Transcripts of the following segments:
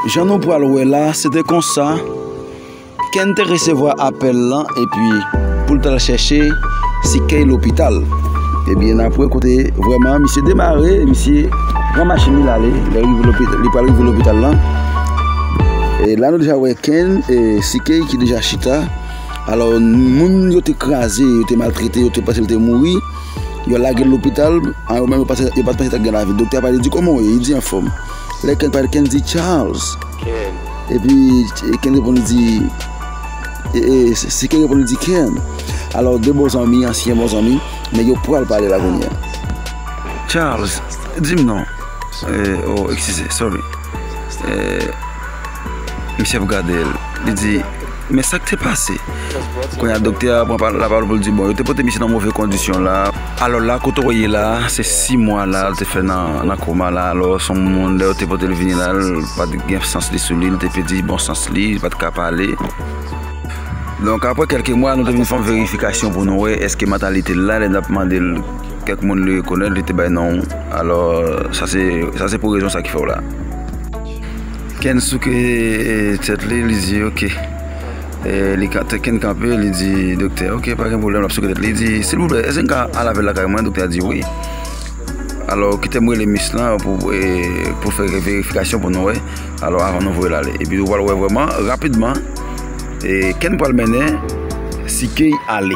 Jan nou pral wè la, se te konsa, Ken te resevwa apèl lan epi pou l t al chèche si Kay lopital. Ebyen n ap wè kote vrèman misye demare, misye pran machin li l ale, lè l rive li pral rive lopital lan, e la nou deja wè Ken e si Kay ki deja chita, alò moun yo te kraze, yo te maltrete, yo te panse l te mouri, yo lage l lopital, an yo menm yo pa t panse ta gen lavi. Doktè a pale, li di kòman w ye? Li di anfòm. Lè Ken pale, Ken di Charles. Ken. Epi Ken reponn li di, si Ken reponn li di Ken. Alò 2 bon zanmi, ansyen bon zanmi, nèg yo pral pale la kounye a. Charles, di m non. Oh, eskize, sorry. Misye ap gade l, li di. Men sak te pase? Kounye a doktè a pran la pawòl pou l di bon yo te pote misye nan move kondisyon la. Alò la kote ou wè ye la se 6 mwa la l te fè nan koma la alò se yon moun lè yo te pote l vini la l pa t gen sans li sou li l te pèdi bon sans li li pa t ka pale. Donk aprè kèlke mwa nou te vin fè yon verifikasyon pou nou wè èske mantalite l la lè n ap mande l kèk moun li rekonèt li te bay non alò sa se pou rezon sa ki fè w la. Ken souke tèt li, li di ok. Li kanpe, Ken kanpe, li di doktè ok pa gen pwoblèm, l ap souke tèt li. Li di silvouplè èske m ka al avè l lakay mwen? Doktè a di wi. Alò kite m rele miss lan pou fè kèk verifikasyon pou nou wè alò avan nou voye l ale. Epi ou pral wè vrèman rapidman Ken pral mennen Sikey ale.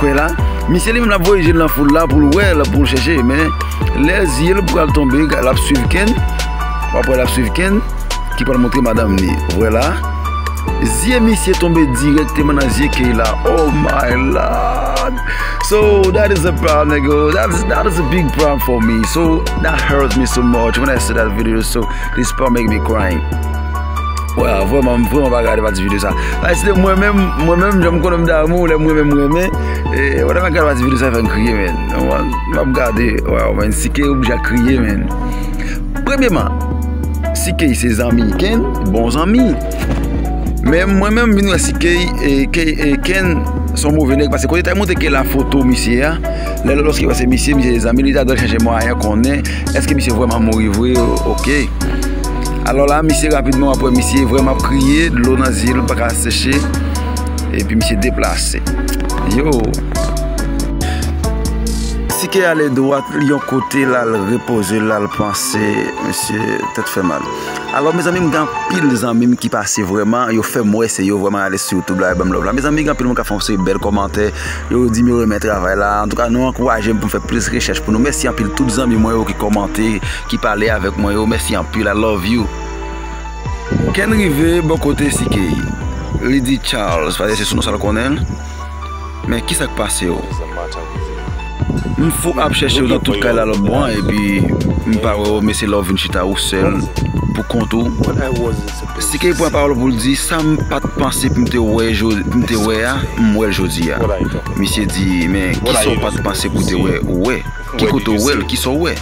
Kwè la, misye li menm lap voye je l nan foul la pou l wè l, pou l chèche, men lè zye l pral tonbe lap swiv Ken, wap wè lap swiv Ken ki pral montre madanm li, wè la zye misye tonbe dirèkteman nan zye Keyla, oh my lord so dat is a pwoblm nègo, dat is a big pwoblm fò mi, so dat hurts mi so much wen i si dat video, so this part make me crying. Waww vreman m vreman pa gade pati video sa a se te mwen menm mwen menm jan m konnen m damou lè m renmen m renmen e wata nan gade pati video sa a fè m kriye men m ap gade waww men CK oblije a kriye men premyeman CK se zanmi Ken bon zanmi men mwen menm m vin wè CK e Ken son move nèg pase kote te montre Ken la foto misye a lè lòske l wè se misye misye se zanmi li ta dwe chache mwayen konnen eske misye vreman mouri vre ok. Alò la misye rapidman wap wè misye vrèman ap kriye, dlo nan zye li paka seche epi misye deplase. Tike ale dwat li yon kote lal repoze lal panse misye tèt fè mal. Alò mezanmi m gen anpil zanmi m ki pase vrèman yo fèm wè se yo vrèman ale sou youtube la yo banm love la. Mezanmi gen anpil moun kap fè yon seri bèl kòmantè yo dim yo renmen travay la antouka nou ankourajem poum fè plis rechèch pou nou mèsi anpil tout zanmi mwen yo ki kòmante. ki pale avek mwen yo mèsi anpil I love you Ken rive bò kote CK li di Charles paske se sou non sa l konnen l men kisa k pase w m fou ap chèche w nan tout kay la lòt bò an epi m pa wè w mesye lè w vin chita ou sèl pou kont ou CK pran pawòl pou l di sa m pa t panse pou m te wè m te wè a m wè l jodi a misye di men kisa w pa t panse pou w te wè ou wè. Ki kote w wè l, kisa w wè?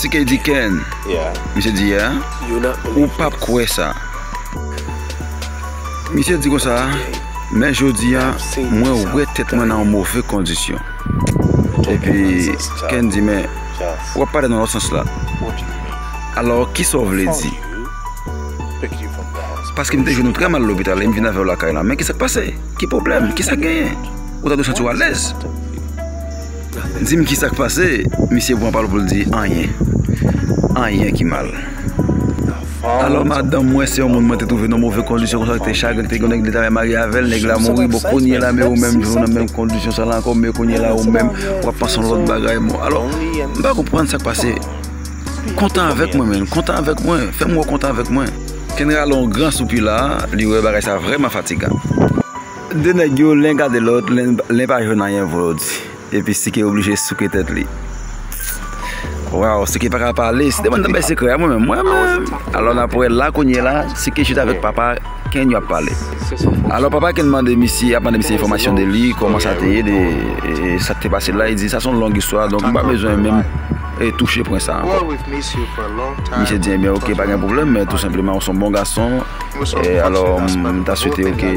CK di Ken, misye di yeah, ou pap kwè sa. Misye di konsa, men jodi a mwen wè tèt mwen nan yon move kondisyon. Epi Ken di men, w ap pale nan lòt sans la. Alò kisa w vle di? Paske m te jwenn ou trè mal lopital e m vin avè w lakay la. Men kisa k pase? Ki pwoblèm? Kisa k genyen? Ou ta dwe santi w alèz. Dim kisak pase misye pran pal poul di anyen anyen ki mal alò madanm mwen se yon moun mwen te twouve nan move kondisyon konsa te chagren te gen nèg li ta renmen marye avèl nèg la mouri bon kounye la men ou menm toujou nan menm kondisyon sa la ankò men kounye la ou menm wap panse yon lòt bagay bon alò m pa konprann sak pase kontan avèk mwen menn kontan avèk mwen fèm wè w kontan avèk mwen. Kendra lon gran soupi la li wè bagay sa vrèman fatigan. De nèg yo len gade lòt len pa jwenn anyen pou yo di epi Sike oblije souke tèt li Waww Sike paka pale Sike bann bay sekrè a mwen menm mwen menm alò nap wè la kounye la Sike chita avèk papa Ken yo ap pale alò papa Ken mande misye ap mande misye enfòmasyon de li kòman sa te ye de sak te pase la li di sa son long istwa donk m pa bezwen menm touche pwen sa ankò misye di ebyen ok pa gen pwoblèm men tou senpleman ou son bon gason Alò m ta swete yo ke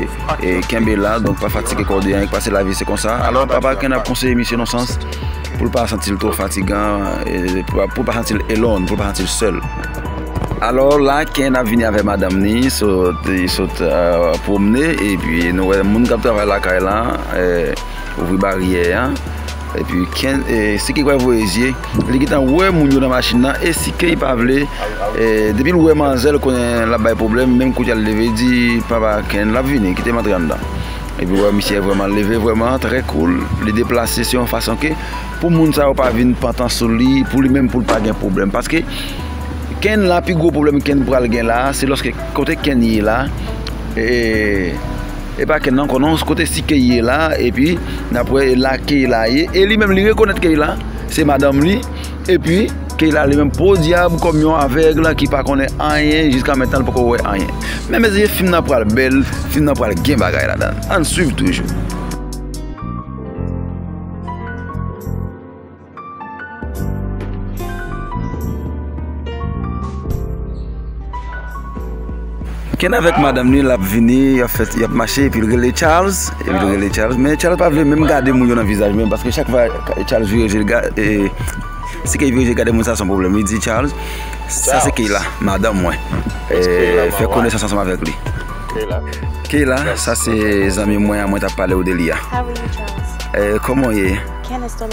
kenbe la, donk pa fatige kò w de anyen, pase lavi se konsa. Alò papa Ken ap konseye misye nan sans pou l pa santi l twò fatigan, pou l pa santi l alone, pou l pa santi l sèl. Alò la Ken ap vini avèk madanm ni, li sot pwomne epi nou wè moun k ap travay lakay la ouvri baryè a. Epi ken e siki kwè voye zye li gentan wè moun yo nan machin nan e si keny pa vle e depil wè manzè l konnen lap bay problèm menm kounye a l leve di papa ken lap vini kitem antre anndan epi wè misye vrèman leve vrèman trè koul li deplase se yon fason ke pou moun sa yo pa vin pantan sou li pou li menm pou l pa gen problèm paske ken la pi gwo problèm ken pral gen la se lòske kote ken ye la e Epa kenn nan konnen kote si key ye la epi nap wè la key la ye e li menm li rekonèt key la se madanm li epi key la li menm podyab kòm yon avèg la ki pa konnen anyen jiska mentèl poko wè anyen men mezanmi fim nan pral bèl fim nan pral gen bagay la dan ann swiv toujou. Ken avèk madanm li lap vini yap fè yap mache epi li rele Charles epi li rele Charles men Charles pa vle menm gade moun yo nan vizaj menm paske chak fwa Charles vire jel ga ee si Kay vire jel gade moun sa son pwoblèm li di Charles sa se Keyla madanm mwen ee fè konesans ansanm avèk li Keyla sa se zanmi mwen an mwen tap palew de li a ee kòman ou ye.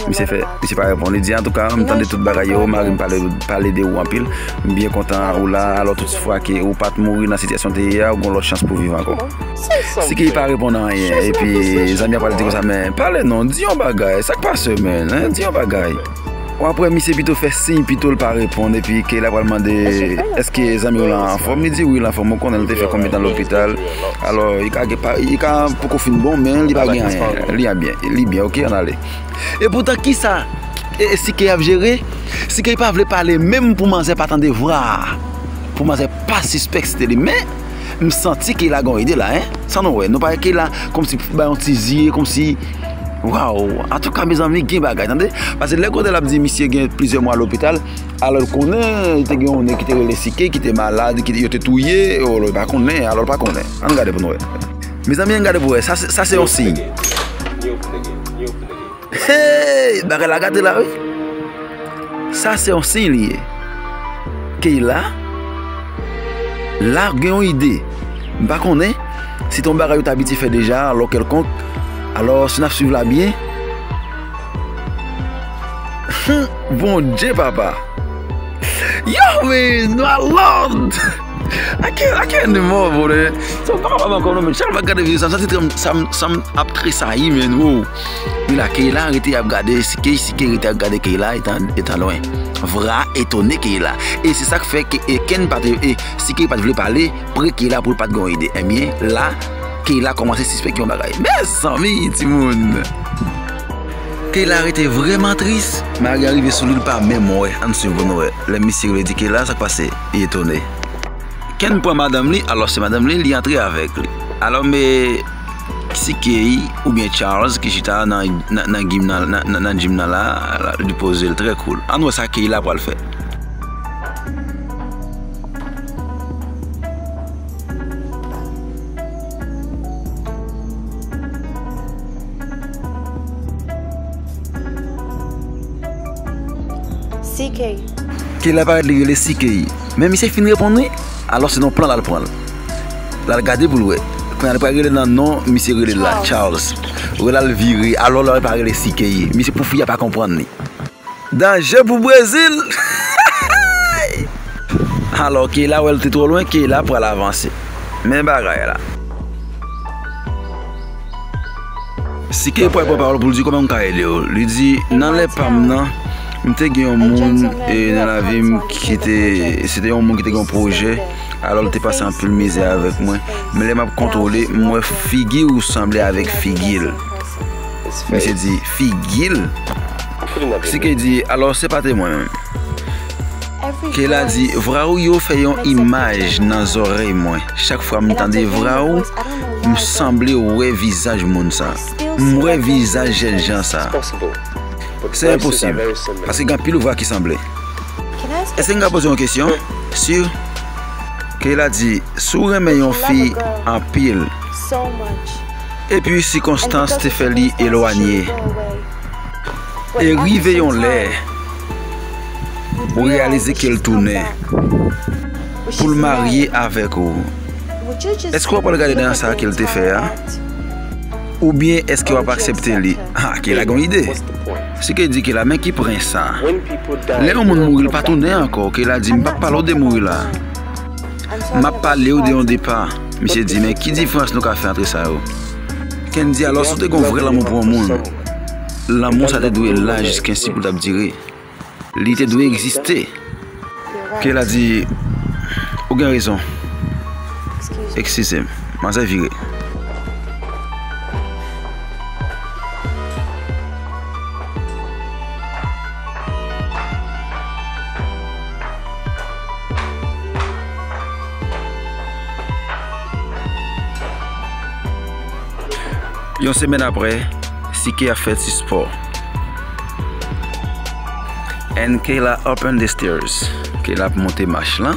Misye fè, misye pa reponn. Li di, Antouka, m tande tout bagay yo, mari m pale de ou anpil. M byen kontan ou la a, alò toutfwa ke ou pa t mouri nan sitiyasyon w te ye a, ou gen yon lòt chans pou w viv ankò. Si ke li pa reponn anyen, epi zanmi a pral di konsa, Men, pale non, di yon bagay, sa k pase w menn, hein, di yon bagay. Ou apre misye pito fè siy pito l pa reponn, epi ke l apral mande, Èske zanmi w lan anfòm? Li di, Wi, l anfòm. Ou konnen l te fè konbyen tan lopital? Alò li ka gen pa li ka poko fin bon men li pa gen anyen li an byen li byen ok an ale e poutan kisa sikey ap jere sikey pa vle pale menm pou manzè pa tande vwa pou manzè pa sispèk se te li men m santi keyla gen yon ide la hein sa nou wè nou pa wè keyla kòmsi pou bay yon ti zi kòmsi waw antouka mezanmi gen bagay tande pase lè gode lap di misye gen plizyè mwa lopital. Alò l konnen li te gen yon nèg ki te rele Sike ki te malad, ki yo te touye, o lò li pa konnen, alò l pa konnen. Ann gade pou nou wè. Mezanmi ann gade pou wè, sa se sa se yon siy. Heyy! Bagay la gate la wi. Sa se yon siy li ye. Keyla, la gen yon ide. M pa konnen si te yon bagay yo te abitye fè deja alò kèlkonk, alò si n ap swiv la byen, Humm bondye papa Yow men nou al lòd Ake animò bro men Sa pa wap ankò non men chak fwa map gade videyo sa santi kèm sanm ap tresayi men woo Wi la Keyla rete ap gade si key si key rete ap gade Keyla etan lwen Vra etone Keyla e se sak fè e kenn pat e si key pat vle pale Pre Keyla poul pat gen yon ide ebyen la Keyla kòmanse sispèk yon bagay mezanmi timoun Keyla rete vrèman tris. Maria rive sou li li pa menm wè ann swiv pou nou wè lè misye rive di Keyla sak pase li etone Ken pran madanm li alò se madanm li li antre avèk li alò me si Key oubyen Charles ki chita nan gym nan la li pozel trè cool ann wè sa Keyla pral fè. CK. Ke lè parèt li rele CK. Men misye fin reponn wi, alò se nan plan lal pranl. Lal gade poul wè. Kounya li pral rele nan non misye rele la, Charles. Wè lal vire, alò lal pa rele CK. Misye pou fi a pa konprann li. Danje pou Brezil! Alò Keyla wè l te twò lwen, Keyla pral avanse. Men bagay la. Si Keyla pral pran pawòl pou l di kòman m ka ede w, li di nan lè pa m nan, m te gen yon moun nan lavi m ki te, se te yon moun ki te gen yon pwojè, alò l te pase anpil mizè avèk mwen. Men lè m ap kontwole, m wè figi ou sanble avèk figi l. Misye di, figil CK di alò se pa te mwen menm Keyla di vra ou yo fè yon imaj nan zòrèy mwen chak fwa m tande vra ou m sanble wè vizaj moun sa m wè vizaj jènjan sa se enposib paske gen anpil vwa ki sanble èske m ka poze yon kesyon si Keyla di si w renmen yon fi anpil. Epi sikonstans te fè li elwanye. E rive yon lè, ou reyalize ke l tounen, pou l marye avèk ou. Èske w ap pral gade dèyè sa ke l te fè a? Oubyen èske w ap aksepte li? Ha, ke la gen yon ide! Se ke di ke la, men ki pren sa. Lè yon moun mouri, l pa tounen ankò, ke la di, m pa p pale w de mouri la. M ap pale w de yon depa. Misye di, Men, ki diferans nou ka fè antre sa yo? Ken di, Alò, si w te gen yon vrè lanmou pou yon moun, lanmou sa a te dwe la jiskensi pou l t ap dire. Li te dwe egziste. Pye la di, Ou gen rezon. Ekskize m. Manzè vire. Yon semèn apre, Sike ap fè ti spò. And Kayla up on the stairs. Kayla ap monte mach lan.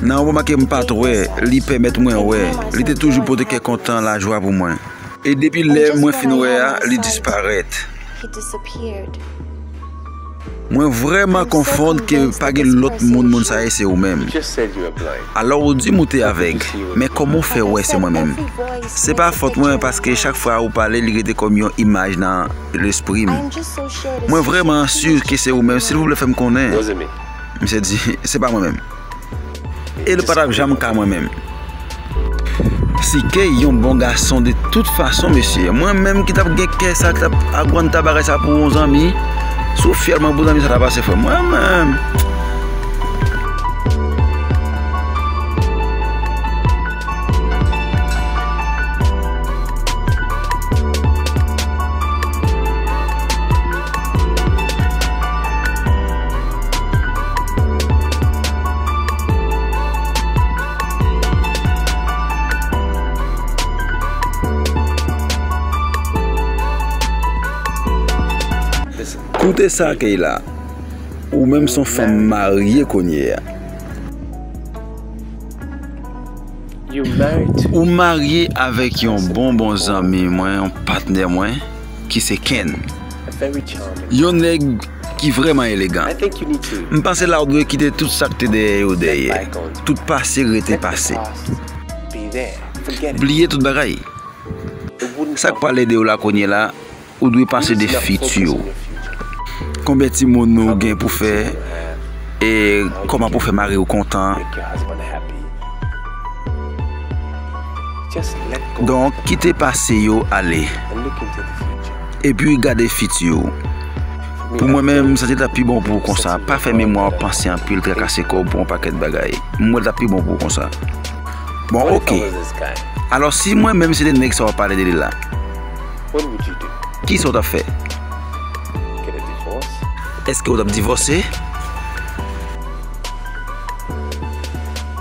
Nan yon moman ke m pa t wè, li pèmèt mwen wè. Li te toujou pote kè kontan, lajwa pou mwen. E depi lè mwen fin wè a, li disparèt. Mwen vrèman konfond ke pa gen lòt moun moun sa ye se ou menm. Alò ou di m ou te avèg, men kòman ou fè wè se mwen menm? Se pa fòt mwen paske chak fwa ou pale li rete kòm yon imaj nan lespri m. Mwen vrèman sur ke se ou menm, silvouplè fè m konnen. Misye di, Se pa mwen menm. E li pa t ap janm ka mwen menm. CK yon bon gason de tout fason mesye. Mwen menm ki t ap gen kè sa, ki t ap agwanta bagay sa pou yon zanmi. Si w fyèl mwen pou zanmi sa ta pase frè m. Mwen menm. Koute sa Keyla, ou menm son fanm marye kounye a. Ou marye avèk yon bon bon zanmi mwen, yon patnè mwen. ki se Ken. Yon nèg ki vrèman elegan. M panse la ou dwe kite tout sa k te dèyè yo dèyè. Tout pase rete pase. Bliye tout bagay. Sa k pral ede w la kounyela, ou dwe panse de fiti w. Konbyen timoun ou gen pou fè e kòman pou fè mari w kontan. Donk, kite pase yo ale, epi gade fiti ou. Pou mwen menm, sa te ta pi bon pou ou konsa, pa fè memwa w panse anpil, trakase kò w pou yon pakèt bagay. M wè l ta pi bon pou ou konsa. Bon, oke. Alò, si mwen menm se te nèg sa w ap pale de li la, kisa w t ap fè? Èske ou t ap divòse?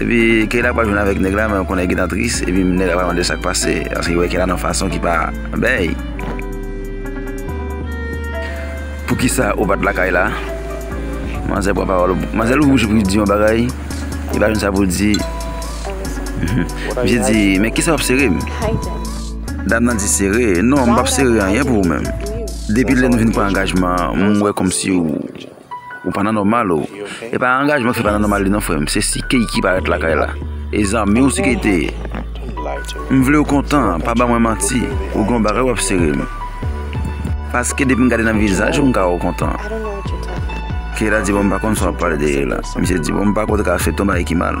Epi Keyla pral jwenn avèk nèg la men ou konnen gentan tris epi nèg la pral mande sak pase paske li wè Keyla nan fason ki pa bèy Poukisa ou pat lakay la Manzè pran pawòl Manzè louvri bouch li poul di yon bagay li pa jwenn sa poul di Misye di men kisa wap serem Dam nan di sere non m pap sere anyen pou ou menm Depi lè nou vin pran angajman an m wè kòmsi ou Ou pa nan nòmal ou. E pa angajman ki pa nan nòmal li non frèm, se si key ki parèt lakay la. E zanmiw si key te ye. M vlew kontan, pa ban mwen manti, ou gen yon bagay wap serem. Paske depim gade nan vizaj ou m ka wèw kontan. Keyla di bon m pa konn sa wap pale de Leila. Misye di bon m pa kwè w te ka fè ton bagay ki mal.